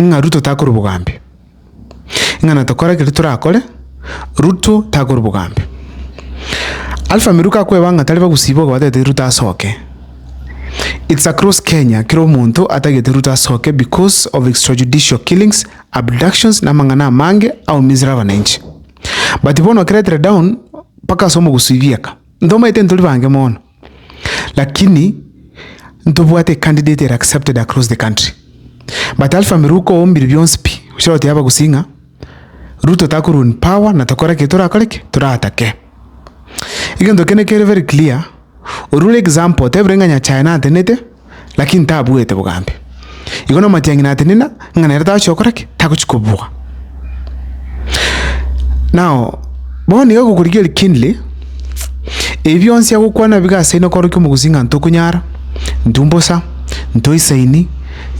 ng'a Ruto takora obogambi, ng'a natokora ekeri torakore, Ruto takora obogambi. Alpha Miru kakweba ng'a tari bagusiba ogobatete Ruto asoke, it's across Kenya kera omonto atagete Ruto asoke because of extrajudicial killings, abductions na amang'ana amange aumizire abananchi. But bono okeretere down mpaka ase omogusii bieka, ntomaete ntori bange mono. Lakini ntobwate a candidate ere accepted across the country. But Alpha Miruko oombiri bionsi pi, ochia goteba abagusii ng'a Ruto takorwa in power na tokore eki torakore ki? Toratake. Egento kende kere very clear, oria ore example otebire ng'a Nyachae natenete, lakini tabuete bogambe. Igo namatiang'ina atenena ng'a nere tagochia gokora ki? Tagochia kobua. Nao bono iga gokorigia kindly, ebi bionsi agokwana iga ase ino korokia omogusii ng'a ntokonyara, ntumbosa, ntoisaini,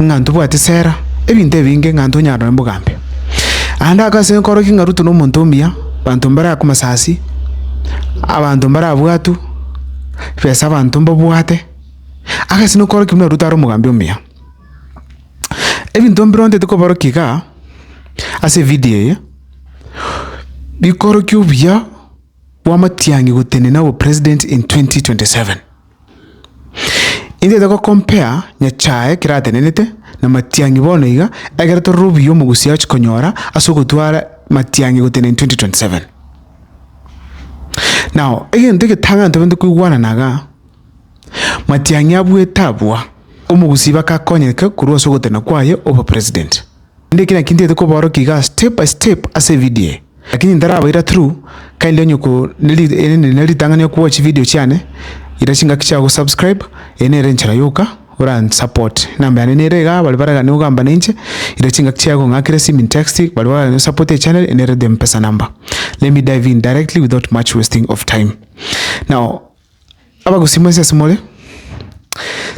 ng'a ntobwate esera, ebinto ebinge ng'a ntonyare nonye bogambe. Ande aka ase nkoroki ng'a Ruto nomonto omuya, abanto mbare aa komasasi, abanto mbare abwatu, besa abanto mbabwate. Agachenu korokia buna Ruto are omogambi omuya. Ebinto mbire ontete koborokia igaa, ase evidio eye, bikorokia obuya bwa matiang'i gotenena obopresident in twenty twenty seven. Intete gocompare nyachae keratenenete na matiang'i bono iga, egere torore obuya omogusii agochia konyora ase ogotwara matiang'i gotenena in twenty twenty seven. Now, egento egetang'ani tobenerete koigwanana igaa. Matiang'i abuete abua, omogusii bakakonyereka korwa ase ogotena kwaye obo president. Rende eki naki ntiete kobaorokia igaa step by step ase evidio eye, lakini ntarabaira through kindly onye ko erinde nere ritang'ani oku watch evidio chiane, ira chingaki chiago go subscribe, eye nere enchera yoka ora nsupport, enamba yane nere igaa baria baragane gogamba nainche, ira chingaki chiaye gong'akera esimi intext, baria baragane go support echannel eye nere the mpesa number. Let me dive in directly without much wasting of time. Now. Abagusii mwensi ase more,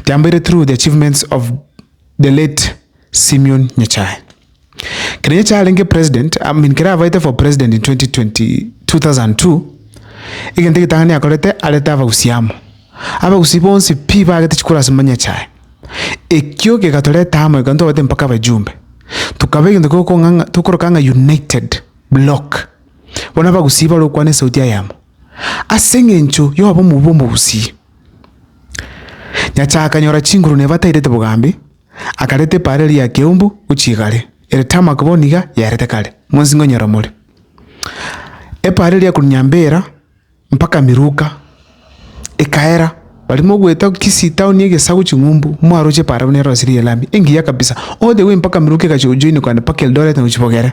tiambeire through the achievements of the late Simeon Nyachae. Kero Nyachae arenge president, I mean kero abaete for president in 2020 2002, egento egetang'ani akorete arete abagusii amo. Abagusii bonsi pi bagete chikura ase Nyachae. Ekio kegatoreta amo ekero twabate mpaka abajumbe. Tokaba egento gokong'a ng'a tokoroka ng'a united block. Bono abagusii barokwane esauti eyemo. Ase engencho y'obomo obwo bw'omogusi, Nyasae akanyora chinguru na ebatairete bogambi, akareta epaara eria ya keumbu gochia igare, ere tarmac bono iga yarete kare, monsi nkonyora more. Epaara eria ya korunya mbera mpaka miruka, ekaera, baria mogoeta Kisii town egesaku ching'umbu, mwaroche epaara buna erosirie elami, engiya kabisa, all the way mpaka miruka egacha gojoinekana mpaka Eldoret na gochia Bogera.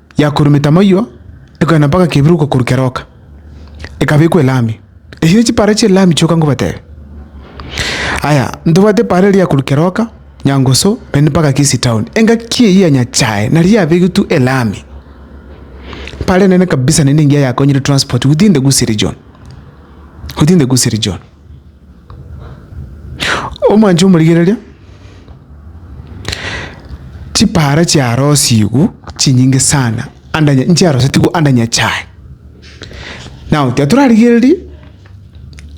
yakorumete amaywa, ekogenda mpaka kebiroka korwa keroka, ekabekwa elami. Echi ne chipaara chi'elami chioka nkobatebe. Aya, ntobwate epaara eria korwa keroka, Nyangusu, naende mpaka Kisii town. Engaki eyio ya Nyachae nario yabegetwe elami. Epaara enene kabisa naende engiya yakonyire transport within the Gusii region, within the Gusii region. Omwanche omorigereria, chipara chiarosigwe chinyinge sana ande anya nchiarosetigwe ande Nyachae. Now tiga torarigereria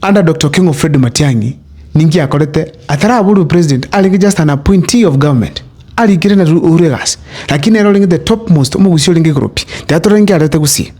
ande Doctor King of Fred Matiang'i ninki akorete ataraborwe president arenge just an appointee of government arikire na Uhuru egasi lakini nere orenge the top most omogusia orenge igoro pi tiga torore ninki arete gusii.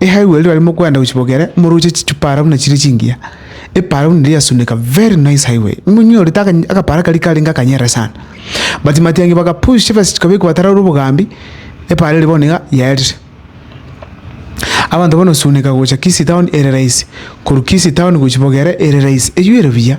Ehaigwa erio riria mokoenda gochia Bogere, moroche chichupara buna chire chingiya, epara buna eria yasuneka, very nice highway, monyorete aka akapara karia karenge akanyerere sana, but matiangi baka push ebase chikabekwa batararwe obogambi, epara eria bono iga yaerire. Abanto bono gosunika gocha Kisii town ere rahisi, korwa Kisii town gochia Bogere ere rahisi, eywo ere buya.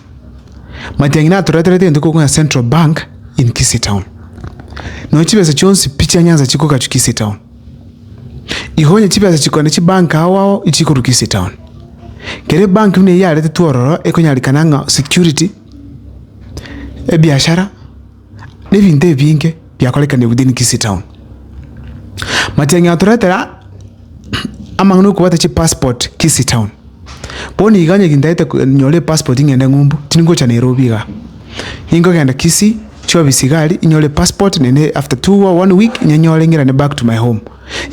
Matiang'i natoreterete egento ekokwana Central Bank in Kisii Town. Nonya chibesa chionsi pi chia Nyanza chikogachwa Kisii Town. Igo onye chibesa chikogenda chibank ao ao chikorwa Kisii Town. Kere ebank buna eyio yaretetwe ororo ekonyarikana ng'a security, ebiashara. nebinto ebinge biakorekane within Kisii town. Matiang'i atoretera amang'ana okobwata chipassport Kisii town, bono iga onye gintaete nyore epassport ng'ende ng'umbu tingocha Nairobi igaa, ningogenda Kisii chiofisi igaa aria inyore epassport naende after two or one week nyenyore ng'irane back to my home.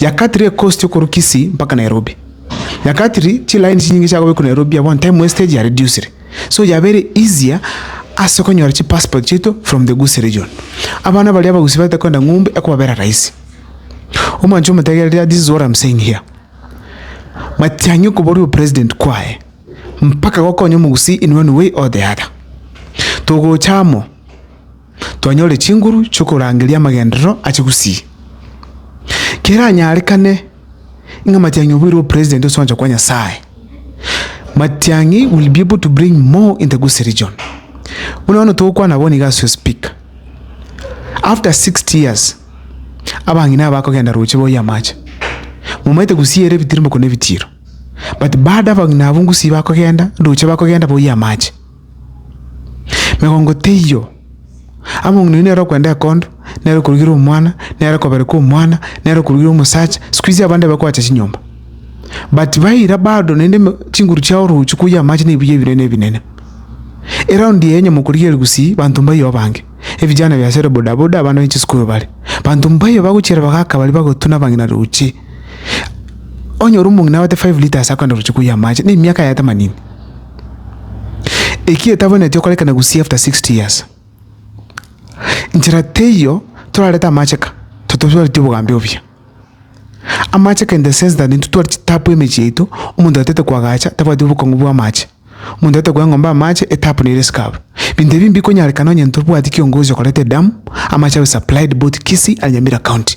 Yakatire ekosti okorwa Kisii mpaka Nairobi, yakatiri chilaini chinyinge chiagobekwire Nairobi abwo time wastage yaredusire. So yabere easier ase konyora chi passport chiaito from the Gusii region. Abana baria abagusii bagete koenda ng'umbe ekobabera rahisi. Omwancho omotegereri this is what I'm saying here. Matiang'i okoboria opresident kwaye mpaka gokonya omogusii in one way or the other. Togocha amo. twanyore chinguru chi'okorangeria amagenderero a chigusii. Keranyarekane ng'a matiang'i oboirwe opresident ase ogwancha kwa Nyasae. Matiang'i will be able to bring more in the Gusii region. Buna bono togokwana bono iga as'o speaker. After 60 years, abang'ina aba bakogenda roche boyie amache. Momaete Gusii ere ebitirimoko na ebitiiro. But bado abang'ina abwo Gusii bakogenda, roche bakogenda boyie amache. Megongo teiyo, amo ng'a nonya nere okwenda ekondo, nere okorugira omwana, nere okobereka omwana, nere okorugira omosacha, sikuizi abande bakoacha chinyomba. But baira bado naende me chinguru chiabo roche koyia amache na ebiya ebinene ebinene. Eraundi eye onye mokorigereria gusii, banto mbaiyeo abange, ebijana biasere bodaboda abana ba chisukuru bare, banto mbaiyeo bagochiera bagaka baria bagotuna abang'ina roche. Onye ore omong'ina abate five litres akogenda roche koyia amache, na emiaka yaye temanini. Eki etabwenereti okorekana gusii after sixty years. Nchera teiyo torarete amacheka totosuareti obogambi obuya. Amacheka in the sense that intwe twari chitapu emechie yaito omonto atete koagacha tabwati obokong'u bwa amache. Omonto atete koa eng'ombe amache etapu nere esike abwo. Binto ebi mbikonyarekana onye intwe tobwati kiongozi okoreta edamu amache abe supplied both Kisii and Nyamira county.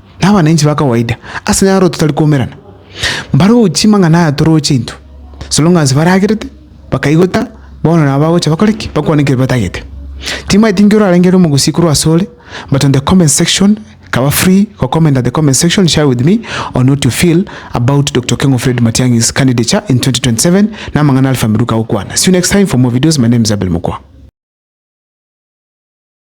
na abananchi ba kawaida ase enyaro totari koumerana, mbaroche chimang'ana aya toroche intwe, as long as baragerete, bakaigota, bono nabo bagocha bakore ki? Bakwane ekero batagete. Timaeti inki orarenge ere omogusii korwa ase ore but on the comment section kaba free go comment at the comment section share with me on what you feel about Doctor Okengo Fred Matiang'i's candidature in 2027 na amang'ana Alpha Miluka agokwana. See you next time for more videos, my name is Abel Mokua.